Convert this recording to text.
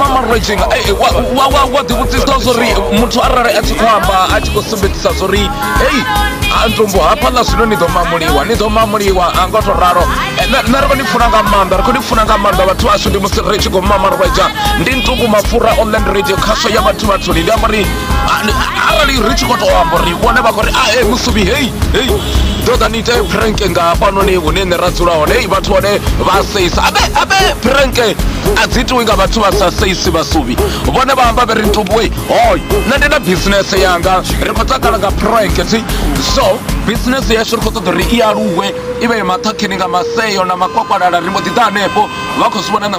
mama raging wa wa wa wa ḓivhudzisa zwa uri muthu arali a tshi khou amba a tshi khou sumbedzisa zwa uri hei antumbu hafhaḽa zwino ni ḓo mamuliwa ni ḓo mamuliwa a ngo to ralo eh, nṋe ri khou ni funa nga maanḓa ri khou ni funa nga maanḓa vhathu vhashu ndi musi ri tshi khou mama rweja ndi ntungu mapfura online radio khasho ya vhathu vhathuni ndi amba uri arali ri tshi khou tou amba uri vhone vha khou ri a e musuvi hei hei ḓo ḓa ni ite pranke nga hafhanoni hune nṋe ra dzula hone hei vhathu hone vha seisa abe abe pranke a dzi itiwi nga vhathu vha sa seisi vhasuvi vhone vha amba vhe ri ntubuwe hoy nṋe ndi na bisinese yanga ri khou takala nga pranke si so bisinese yashu ri khou ṱoḓa uri i aluwe i vhe maṱhakheni nga maseo na makwakwalala ri mbo ḓi ḓa hanefho vha khou zwi vhona na